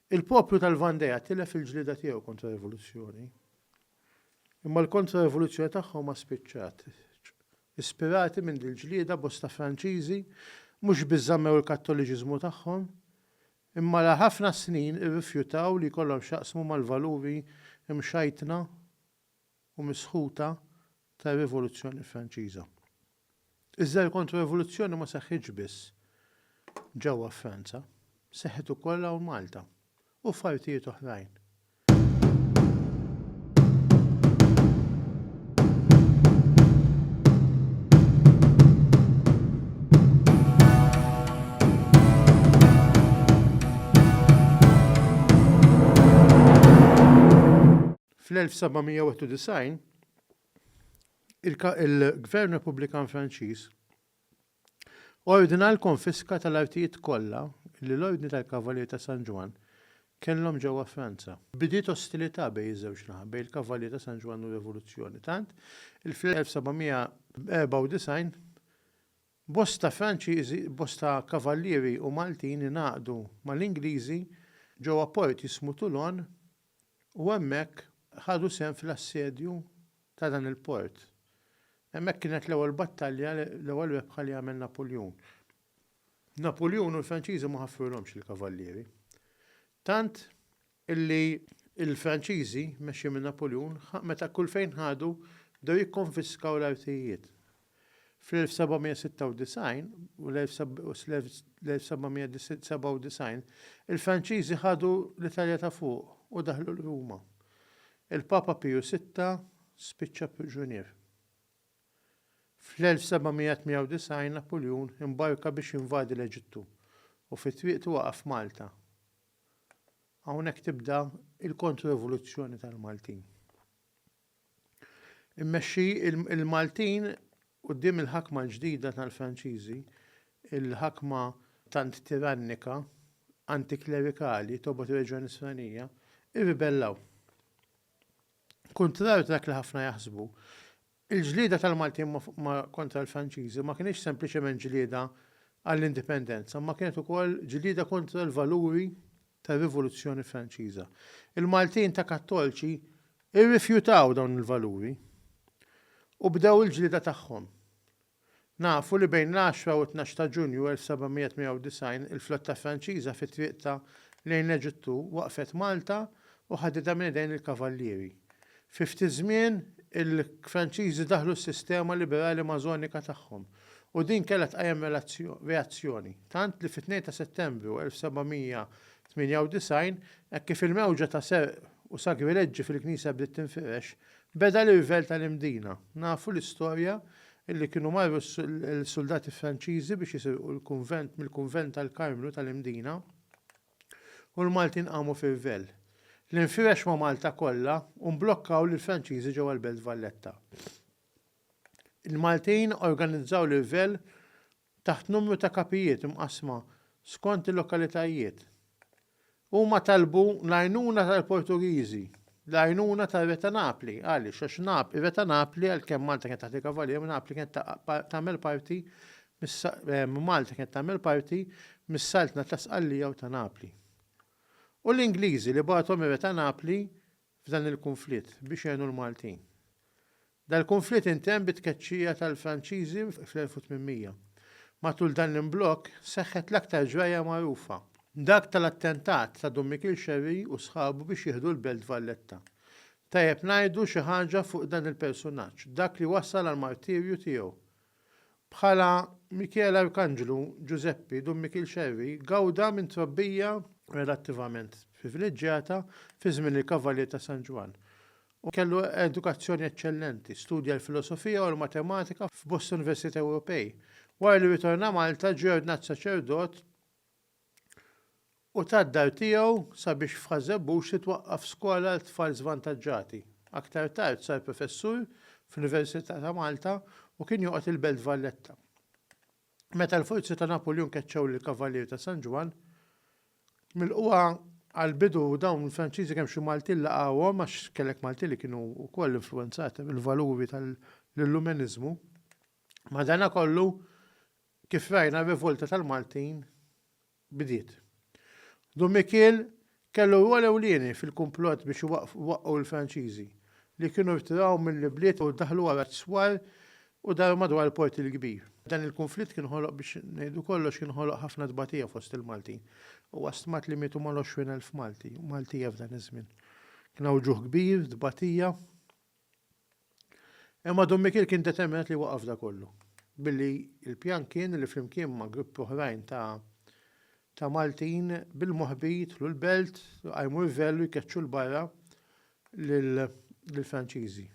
Il-poplu tal-Vandea tilef il-ġlieda tiegħu kontra rivoluzzjoni. Imma l-kontra-rivoluzzjoni tagħhom ma spiċċatx. Ispirati minn dil-ġlieda bosta Franċiżi mhux biss żammew il-Kattoliċiżmu tagħhom, imma għal ħafna snin irrifjutaw li jkollhom x'jaqsmu mal-valuri mxajtna u misħuta tar-Rivoluzzjoni Franċiża. Iżda l-kontro-rivoluzzjoni ma seħħitx biss ġewwa Franza, seħħet ukoll hawn Malta u f'artijiet oħrajn. Fl-1791, il-Gvern Repubblikan Franċiż ordna l-konfiska tal-artijiet kollha li l-Ordni tal-Kavallieri ta' San Ġwann kellhom ġewwa Franza. Bidiet ostilità bejn iż-żewġ naħa, bejn il-Kavallieri ta' San Ġwann u r-Rivoluzzjoni, tant li fl-1794 bosta Franċiżi, bosta Kavallieri u Maltin ingħaqdu mal-Ingliżi ġewwa port jismu Toulon U hemmhekk ħadu sehem fl-assedju ta' dan il-port. Hemmhekk kienet l-ewwel battalja, l-ewwel rebħa li għamel Napuljun. Napuljun u l-Franċiżi ma ħaffrulhomx lill-kavallieri. Tant illi l-Franċiżi, mmexxin minn Napuljun, meta kull fejn ħadu bdew jikkonfiskaw l-artijiet. Fl-1796 u l-1797 il-Franċiżi ħadu l-Italja ta' Fuq u daħlu l-Ruma. Il-Papa Piju Sitta spiċċa priġunier. Fl-1798 Napuljun imbarka biex jinvadi l-Eġittu u fi triqtu waqaf f'Malta. Hawnhekk tibda l-Kontrorivoluzzjoni tal-Maltin. Immexxi l-Maltin quddiem il-ħakma l-ġdida tal-Franċiżi, il-ħakma tant tirannika, antiklerikali, tobgħod reġgħa nisranija, irribellaw. Kuntrarju ta' dak li ħafna jaħsbu, il-ġlieda tal-Maltin kontra l-Franċiżi ma kinitx sempliċement ġlieda għall-indipendenza, imma kienet ukoll ġlieda kontra l-valuri tar-Rivoluzzjoni Franċiża. Il-Maltin ta' Kattolċi rrifjutaw dawn il-valuri u bdew il-ġlieda tagħhom. Nafu li bejn l-għaxra u t-tnax ta' Ġunju 1798 il-flotta Franċiża fi triqtha lejn l-Eġittu waqfet Malta u ħaditha minn idejn il-Kavallieri. Fi ftit żmien il-Franċiżi daħlu s-sistema liberali Mażonika tagħhom. u din kellha tqajjem reazzjoni, tant li fit-2 ta' Settembru 1798, hekk kif il-mewġa ta' serq u sagrileġġi fil-knisja bdiet tinfirex, beda l-irvell tal-Imdina. Nafu l-istorja li kienu marru l-suldati Franċiżi biex jisirqu l-kunvent mill-kunvent tal-Karmnu tal-Imdina u l-Maltin qamu f'irvell li nfirex ma' Malta kollha u mblokkaw lill-Franċiżi ġewwa l-Belt Valletta. Il-Maltin organizzaw livell taħt numru ta' kapijiet imqassma skont il-lokalitajiet. Huma talbu l-għajnuna tal-Portugiżi, l-għajnuna tar-Re ta' Napli, għaliex għax Nap, ir-Re ta' Napli għalkemm Malta kienet taħt il-Kavalieri, Napli kienet tagħmel parti Malta kienet tagħmel parti mis-Saltna ta' Sqallija u ta' Napli. U l-Ingliżi li bagħathom ir-Re ta' Napli f'dan il-kunflitt biex jgħinu l-Maltin. Dal-kunflitt intemm bit-tkeċċija tal-Franċiżi fl-1800. Matul dan l-imblokk seħħet l-aktar ġrajja magħrufa, dak tal-attentat ta' Dun Mikiel Scerri u sħabu biex jieħdu l-Belt Valletta. Tajjeb ngħidu xi ħaġa fuq dan il-persunaġġ, dak li wassal għall-martirju tiegħu. Bħala Mikiel Arkanġlu, Ġużeppi, Dun Mikiel Xerri, gawda minn trobbija relattivament privileġġjata fi żmien il-Kavallier ta' San Ġwann, u kellu edukazzjoni eċċellenti. Studja l-filosofija u l-matematika f'bosta università Ewropej. Wara li ritorna Malta, ġie ordnat saċerdot u tad-dar tiegħu sabiex f'Ħaż-Żebbuġ titwaqqaf skola għal tfal żvantaġġati. Aktar tard sar professur fl-Università ta' Malta u kien joqgħod il-Belt Valletta. Meta l-forzi ta' Napuljun keċċew lill-Kavalieri ta' San Ġwann, milqugħa għall-bidu dawn il-Franċiżi kemm xi Maltin laqgħuhom għax kellek Maltin li kienu wkoll influwenzati mill-valuri tal-Illumeniżmu. Madanakollu, Kif rajna r-rivolta tal-Maltin bdiet. Dun Mikiel kellu rwol ewlieni fil-kumplott biex iwaqqgħu l-Franċiżi, li kienu rtiraw mill-ibliet u daħlu wara t-swar u daru madwar il-Port il-Kbir. Dan il-kunflitt kien ħoloq biex ngħidu kollox kien ħoloq ħafna tbatija fost il-Maltin. Huwa stmat li mietu mal-20 elf Malti u Maltija f'dan iż-żmien. Kien hawn ġuħ kbir, tbatija. Imma Dun Mikiel kien determinat li jwaqqaf da kollu, billi l-pjan kien li flimkien ma' gruppi oħrajn ta' ta' Maltin bil-moħbi jidħlu l-belt, jqajmu rvell u jkeċċu l-barra lill-Franċiżi.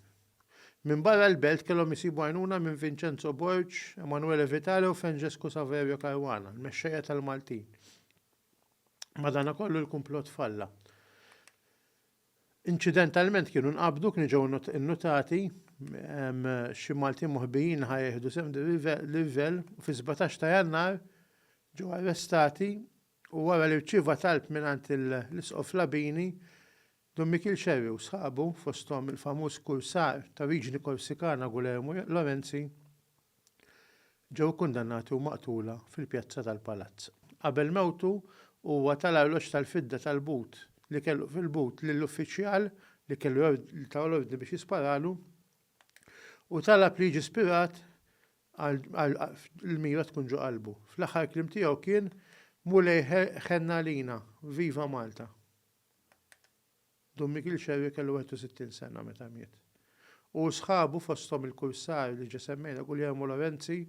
Minn barra l-belt kellhom isibu għajnuna minn Vincenzo Borg, Emanuele Vitale u Franġesku Saverio Caruana, l-mexxejja tal-Maltin. Madanakollu l-kumplott falla. Inċidentalment kienu nqabdu, kienu ġew innutati, xi Maltin moħbijin li ħa jieħdu sehem livell u fi 17 ta' Jannar ġew arrestati u wara li rċieva talb mingħand l-Isqof Labini, Dun Mikiel Scerri u sħabu, fosthom il-famuż kursar ta' oriġini Korsikana Gulermu Lorenzi, ġew ikkundannati u maqtula fil-pjazza tal-palazz. Qabel mewtu, huwa ta' l-arloġġ tal-fidda tal-but li kellu fil-but lill-uffiċjal li kellu li ta l-ordni biex jisparalu u talab li jiġi spirat għal l-mira tkun ġo qalbu. Fl-aħħar kliem tiegħu kien Mulej ħenn għalina, viva Malta! Dun Mikiel Xerri kellu 61 sena meta miet. Hu u sħabu, fosthom il-kursar li ġa semmejna, Guljermo Lorenzi,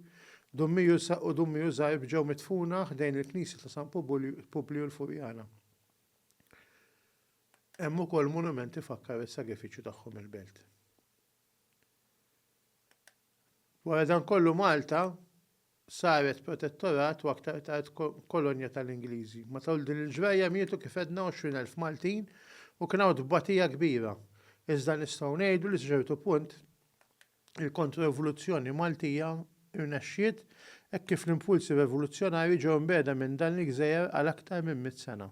Dun Miju u Dun Miju Zarb ġew midfuna ħdejn il-knisja ta' San Publiju l-Furjana. Hemm ukoll monument ifakkar is-sagrifiċċju tagħhom il-belt. Wara dan kollu Malta saret protettorat u aktar tard kolonja tal-Ingliżi. Matul din il-ġrajja mietu kif għedna 20,000 Maltin u kien hawn tbatija kbira. Iżda nistgħu ngħidu li sa ċertu punt il-Kontro-Rivoluzzjoni Maltija rnexxiet hekk kif l-impulsi revoluzzjonarji ġew mbiegħda minn dan il-gżejjer għal aktar minn mitt sena.